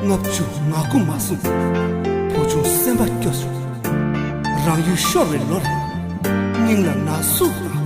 ལྔ་བཅུ་ང་དགུ་མ་གསུངས། བུ་ཆུང་སེམས་པ་སྐྱོ་སོང། རང་ཡུལ་ཤོར་བའི་ལོ་རེད། སྙིང་ལ་ན་ཟུག་ལངས།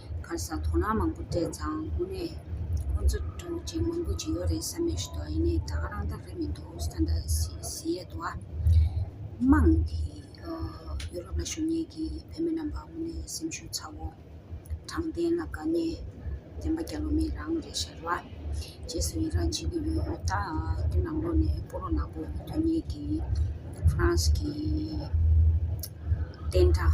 གར་ས་དོ་སྣང་མང་པོ་སྤྲད་ཙང་དངོས་གནས་ཁོང་ཚོ་སྤྲོ་སྐྱིད་མང་པོ་བྱེད་ཡོད་རེད་བསམ་ཡས་ཞུ་དོགས་ཡེ་ནས་ད་ག་རང་ད་རེད་མི་འདུག་ཨུ་སི་ཐན་ད་ཟི་ཡས་འདུག་ཨ། དམངས་དེ་ཡུ་རོབ་ལ་ཞུགས་ཉེས་ཀྱི་བོད་མི་རྣམས་པ་དངོས་གནས་སེམས་ཤུགས་ཚ་བོ། དྲང་བདེན་ལ་དགའ་ཉེ་བདེན་པ་རྒྱ་ལོ་མི་རང་རེད་ཤར་བ། རྗེས་སུ་ཡི་རངས་བྱེད་ཀྱི་ཡོད་ཨོ་ད་དེ་ནང་ལོགས་ནས་སྤོ་རོགས་ནག་པོ་དོན་གཉེར་གྱི་ཧྥ་རན་སི་གི་བསྟན་དགྲ།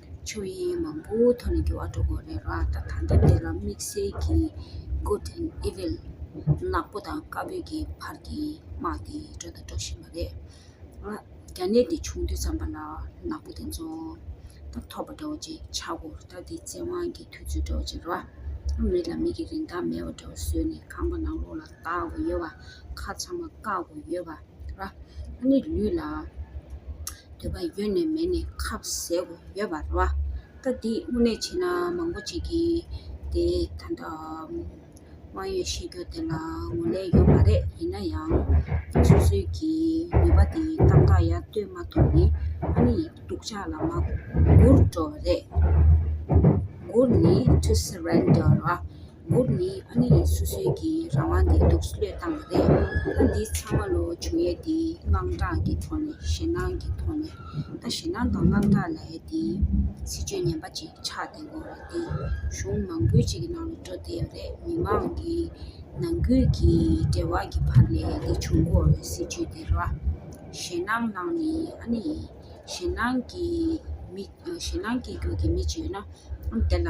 ཆོས་དབྱིངས་མང་པོའི་ཐོག་ནས་དགེ་བ་འགྲོ་དགོས་རེད་ར་ད་ད་ལྟ་འདི་ར་དམིགས་བསལ་གྱིས Good and Evil ནག་པོ་དང་དཀར་པོའི་གྱི་བར་གྱི་དམག་དེ་འགྲོ་དང་འགྲོ་བཞིན་པ་རེད། ང་རྒྱ་ནད་འདི་བྱུང་དུས་ཙམ་པ་ལ་ནག་པོ་དེ་ཚོ་ད་ཐོབ་པ་འདྲ་བོ་ཅིག་ཆགས་སྒོ་ད་འདི་བཙན་དབང་གི་དུས་ཚོད་འདྲ་བོ་ཅིག་ར་མི་ལ་མི་གི་རིན་ཐང་མེད་པ་འདྲ་བོ་བཟོས་ནས་ཁང་པ་ནང་ལོགས་ལ་བདག་དགོས་ཡོད་པ་ཁ་ཚང་མ་བཀག་དགོས་ཡོད་པ། ལ་ཨ་ནི་ལུས་ལ་འདོད་པ་ཡོད་ནས་མེད་ནས་ཁབ་ཟེར་བ་ཡོད་པ་རེད། ད་འདི་དངོས་གནས་བྱས་ན་མང་པོ་བྱེད་ཀྱི་དེ་ད་ལྟ་དབང་ཡོད་ཤེས་རྒྱུ་དེ་ལ་ངོ་ལེན་ཡོད་མ་རེད་ཡིན་ན་ཡང་སོ་སོའི་གི་ནུས་པ་དེ་ཏག་ཏག་ཡར་བཏོད་མ་ཐུབ་ནི་ཨ་ནི་སྡུག་ཅག་ལ་མ་གུར་འགྲོ་བ་རེད། གུར་ནི་ཐུ་སི་རན་དོ་ར། འབུར་ནི་ཨ་ནེ་ཡིས་སོ་སོའི་གི་རང་དབང་དེ་སྡུག་བསློས་བཏང་བ་རེད། ད་འདི་ཚང་མ་ལོ་བྱུང་ཡས་དེའི་དངངས་སྐྲག་གི་ཐོག་ནས་ཞེད་སྣང་གི་ཐོག་ནས་ད་ཞེད་སྣང་དང་དངངས་སྐྲག་ལས་དེའི་སྲིད་ཇུས་ངན་པ་ཅིག་ཆགས་བསྡད་འགོ་རེད་དེ་གཞུང་མང་པོའི་ཅིག་གི་ནང་ལ་འགྲོ་བསྡད་ཡ་རེད་མི་མང་གི་ནང་ཁུལ་གི་འབྲེལ་བ་གི་བར་ལས་དེ་བྱུང་འགོ་རེད་སྲིད་ཇུས་དེ་ར་ཞེད་སྣང་གནང་ནི་ཨ་ནེ་ཡིས་ཞེད་སྣང་གི་མི་ཞེད་སྣང་སྐྱེས་རྒྱུ་གི་མི་ཅིག་ཡོད་ན་དེ་ལ།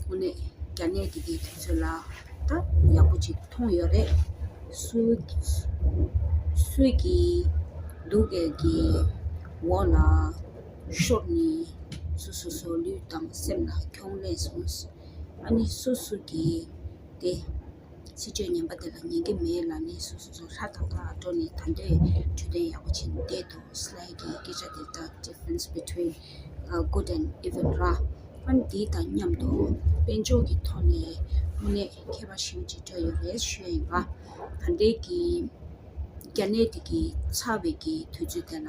ཐོག་ནས་རྒྱ་ནད་འདི་གའི་དུས་ཚོད་ལ་ད་ཡག་པོ་ཅིག་མཐོང་ཡོད་རེད། སུད་ཀྱི་གདུགས་དཀར་གྱི་འོག་ལ་ཤོར་ནས་སུ་སུ་སོ་ལུས་དང་སེམས་ལ་གྱོང་ལེན་སོང། ཨ་ནི་སུད་སུད་ཀྱི་དེ། སྲིད་ཇུས་ངན་པ་འདི་ལ་ཉན་གྱི་མེད་ལ་ནི་སོ་སོ་ཚོ་ལྷ་དང་ཐང་ལ་སྤྲོ་ནས་ད་འདོད་འཕྲོད་བསྟེན་ཡག་པོ་བྱེད་ནི་བསྡད་འདུག་སླད་ཀྱི་སྐད་ཆ་འདི་དག difference between good and evil ར་ཨན་འདི་དང་མཉམ་དུ་དཔལ་འབྱོར་གྱི་ཐོག་ནས་དངོས་གནས་མཁས་པ་ཞིག་ཅིག་འདྲ་ཡོད་རེད་ཤོད་ཡིན་པ་ད་འདས་ཀྱི་རྒྱ་ནད་འདི་གི་ཚ་བའི་གི་དུས་ཚོད་དེ་ལ།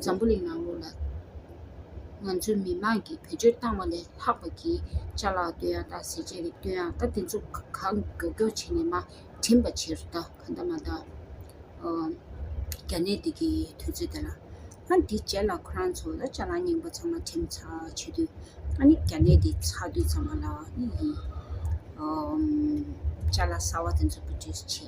འཛམ་བུ་གླིང་ནང་ལོགས་ལ་ང་ཚོའི་མི་དམངས་ཀྱིས་བེད་སྤྱོད་བཏང་བ་ལས་ལྷག་པ་གི་བཅའ་ལག་བསྟོད་དབྱངས་དང་ཟས་བཅད་རིགས་བསྟོད་དབྱངས་ད་དེ་ཚོ་གང་དགའ་སྐྱོ་བྱས་ནས་མ་བྲིན་པ་ཕྱིར་ད་ག་འདའ་མ་འདའ། རྒྱ་ནད་འདི་གི་དུས་ཚོད་འདི་ལ། ཨ་འདི་བྱས་ལ་ཁོ་རང་ཚོ་ལ་བཅའ་ལག་རྙིང་པ་ཚང་མ་བྲིན་པ་ཚར་བྱེད་དུས་ཨ་ནི་རྒྱ་ནད་འདི་ཚར་དུས་ཚང་མ་ལ་ཨི་ཡི། བཅའ་ལག་གསར་བ་དེ་ཚོ་བེད་སྤྱོད་བྱེད།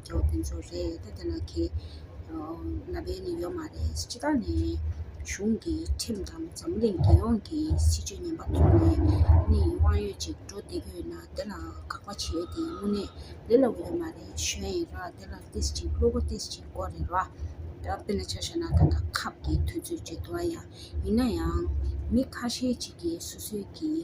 ལོ་དེ་ཚོ་རེད་ད་དེ་ལ་ཁེ་ལ་བས་ནི་ཡོད་མ་རེད་སྤྱི་བདག་ནས་གཞུང་གི་ཁྲིམས་དང་འཛམ་གླིང་རྒྱལ་ཡོངས་ཀྱི་སྲིད་ཇུས་ངན་པ་བཙུགས་ནས་ནི་དབང་ཡོད་ཅིག་འགྲོ་བསྡད་ཀྱི་ཡོད་ན་དེ་ལ་དགག་པ་བྱས་ཏེ་དངོས་གནས་ལེ་ལ་འོས་མ་རེད་ཞོན་ཡིན་ར་དེ་ལ་ཏིས་ཅིག་བླུ་བ་ཏིས་ཅིག་གོ་རེད་ར་ད་དཔེ་ལ་ཆ་བཞག་ན་ད་ལྟ་ཁབ་ཀྱི་དུས་ཚོད་བརྗེད་འདུག་ཡ་ཡིན་ན་ཡང་མི་ཁ་ཤས་ཅིག་གིས་སོ་སོའི་གི།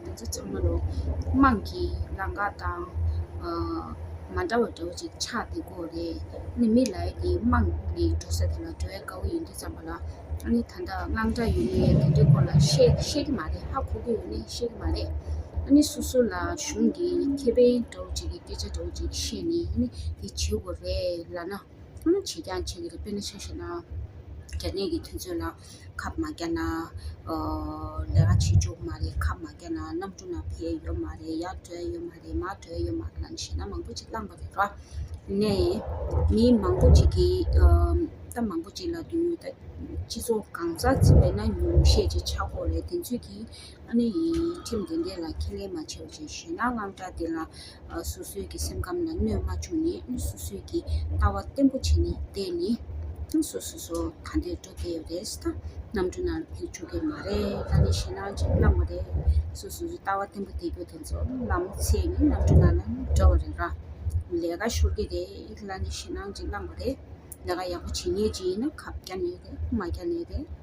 འདི་ཚོ་ཚང་མ་རོ། དམངས་ཀྱི་ལང་ཀ་དང། མ་འདྲ་བ་འདྲ་བོ་ཅིག་ཆགས་འདི་གོ་རེ། ནི་མི་ལ་ཡི་ནི་དམངས་ནི་འགྲོ་ས་དེ་ལ་འགྲོ་ཡ་དཀའ་བོ་ཡིན་དུས་ཙམ་པ་ལ། ཨ་ནི་ད་ལྟ་དངངས་སྐྲག་ཡོད་ནི་དེ་འདྲའི་སྐོར་ལ་ཤེས་ཤེས་ཀྱི་མ་རེད་ཧ་གོ་གི་ཡོད་ནི་ཤེས་ཀྱི་མ་རེད། ཨ་ནི་སུ་སུ་ལ་གཞུང་གི་ཁེ་ཕན་འདྲ་བོ་ཅིག་གི་སྐད་ཆ་འདྲ་བོ་ཅིག་བཤད་ནི་ཨ་ནི་དེ་བྱེད་དགོ་རེད་ལ་ན། ཨ་ནི་བྱེད་ཀྱང་བྱེད་གི་རེད་དཔེར་ན་ཆ་ཤས་ན། རྒྱ་ནད་ཀྱི་དུས་ཚོད་ལ། ཁབ་མ་རྒྱག་ན། ལས་ཀ་བྱེད་བཅུག་མ་རེད་ཁབ་མ་རྒྱག་ན་གནམ་གྲུ་ནང་བས་ཡོད་མ་རེད་ཡར་བྲོས་ཡོད་མ་རེད་མར་བྲོས་ཡོད་མ་རེད་ལ་བྱས་ན་མང་པོ་ཅིག་བསླངས་པ་རེད་ར། ནས་མི་མང་པོ་ཅིག་གིས་ད་མང་པོ་ཅིག་ལ་དུས་ད་སྤྱི་ཚོགས་གང་ཟག་ཅིག་བས་ན་ཉུང་ཤས་ཅིག་ཆགས་སྒོ་རེད་དེ་ཚོད་ཀྱིས། ཨ་ནི་ཡི་ཁྲིམས་དེ་འདྲས་ལ་ཁས་ལེན་མ་བྱས་པ་ཅན་ཞེ་ན་དངངས་སྐྲག་དེ་ལ་སོ་སོའི་གི་སེམས་ཁམས་ལ་གནོད་མ་བྱུང་ནས་ཨ་ནི་སོ་སོའི་གི་ལྟ་བ་བརྟན་པོ་བྱས་ནས་བསྡད་ནི་ཨ་སོ་སོ་སོ་ག་འདོད་འགྲོ་བསྡད་ཡོད་རེད་ད་གནམ་གྲུ་ནང་ཕེབས་ཆོག་གི་མ་རེད་ད་ནི་ཞེ་སྣང་ཅིག་བསླངས་པ་རེད་སོ་སོའི་ལྟ་བ་བརྟན་པོ་བསྡད་རྒྱུ་དེ་ཚོ་ལ་མོ་ཚེ་ནི་གནམ་གྲུ་ནང་ལ་འགྲོ་བ་རེད་ར་ལས་ཀ་ཤོར་གི་རེད་ད་ནི་ཞེ་སྣང་ཅིག་བསླངས་པ་རེད་ལས་ཀ་ཡག་པོ་བྱེད་ངེས་ཅིག་ཡིན་ན་ཁ་བསྐྱར་ནས་བསྡད་མ་བསྐྱར་ནས་བསྡད།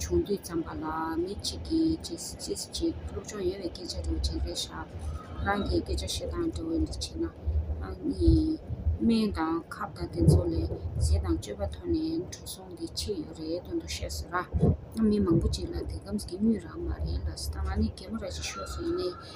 ཆུང་དུས་བརྩམས་པ་ལ་མི་གཅིག་གིས་ཅི་ཟེར་ཅི་བྱེད་སློབ་སྦྱོང་ཡོད་པའི་སྐད་ཆ་འདྲ་བོ་བྱེད་ས་ཞག་རང་གི་སྐད་ཆ་བཤད་སྟངས་འདྲ་བོ་འདི་བྱས་ན། ཨང་གཉིས། སྨན་དང་ཁབ་དང་དེ་ཚོ་ལས་ཟས་དང་སྤྱོད་པ་ཐོན་ནས་འགྲོ་སོང་འདི་ཆེད་ཡོད་རེད་དོན་དུ་བཤད་ཟེར་ན། མི་མང་པོ་ཅིག་ལ་དེ་ཁམས་ཀྱི་སྨྱོས་རང་མ་རེད་ལ་ཟེར་ད་ང་ནི་རྒད་མོ་ར་ཅིག་ཤོས་སུ་ཡིན་ནས་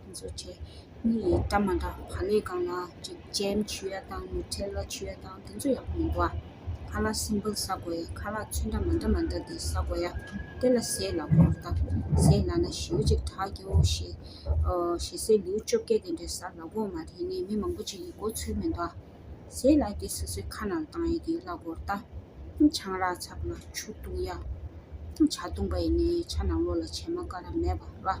ཁྱེད་ཚོ་ཁྱེད་གཉིས་ཡིས་སྐྲ་མ་འདྲ་བག་ལེབ་གང་ལ་ཅིག་ཅེམ་ཆུ་ཡ་དང་མུ་ཁྲེ་ལ་ཆུ་ཡ་དང་དེ་ཚོ་ཡག་པོ་མི་འདུག་ཨ། ཁ་ལག་སིམ་པིལ་ཟ་དགོས་ཡ་ཁ་ལག་ཆུ་འདྲ་མ་འདྲ་མ་འདྲ་དེ་ཟ་དགོས་ཡ་དེ་ལ་ཟས་ལ་བོར་ལྟ་ཟས་ལ་ན་ཞེའུ་ཅིག་དྲག་སྐྱེའོ་ཞེས་ཞེ་སའི་ལེའུ་བཅོ་བརྒྱད་དེ་འདྲས་ཟ་ལ་བོར་མ་དེ་ནི་མི་མང་པོ་ཅིག་གི་གོ་ཚོད་མི་འདུག་ཨ། ཟས་ལ་དེ་སོ་སོའི་ཁ་ནང་བཏང་ཡ་དེ་ལ་བོར་ལྟ། ཆང་རག་ཚག་ལ་ཆུ་བཏུངས་ཡ། ཆ་བཏུངས་པ་ཡིས་ནི་ཆ་ནང་ལོགས་ལ་བྱེ་མ་ཀ་ར་མེད་པ་ལ།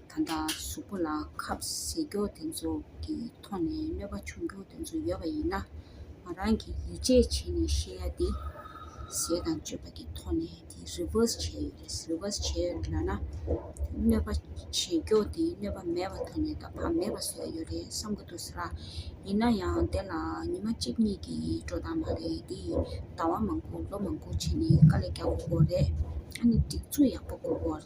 ད་ལྟ་གཟུགས་པོ་ལ་ཁབ་བཟེད་རྒྱོ་དེ་ཚོ་གི་ཐོག་ནས་གནོད་པ་བྱུང་རྒྱུ་དེ་ཚོ་ཡོད་པ་ཡིན་ན། ང་རང་གིས་ཡིད་ཆེས་བྱས་ནས་བཤད་ཡ་དེ། བཟེད་དང་གཅོད་པ་གི་ཐོག་ནས་དེ reverse བྱས་ཡོད་རེད reverse བྱས་ཡོད་རེད་ལ་ན། གནོད་པ་བྱེད་རྒྱོ་དེ་གནོད་པ་མེད་པ་ཐོག་ནས་ད་བར་མེད་པ་བཟོས་ཡོད་རེད་བསམ་གི་འདུག་ས་ར། ཡིན་ན་ཡང་དེ་ལ་ཉི་མ་གཅིག་གཉིས་ཀྱི་འགྲོ་སྟངས་མ་རེད་དེ། ཟླ་བ་མང་པོ་ལོ་མང་པོ་བྱས་ནས་དཀའ་ལས་རྒྱག་དགོས་རེད། ཨ་ནི་སྒྲིག་འཛུགས་ཡག་པོ་དགོས་དགོས།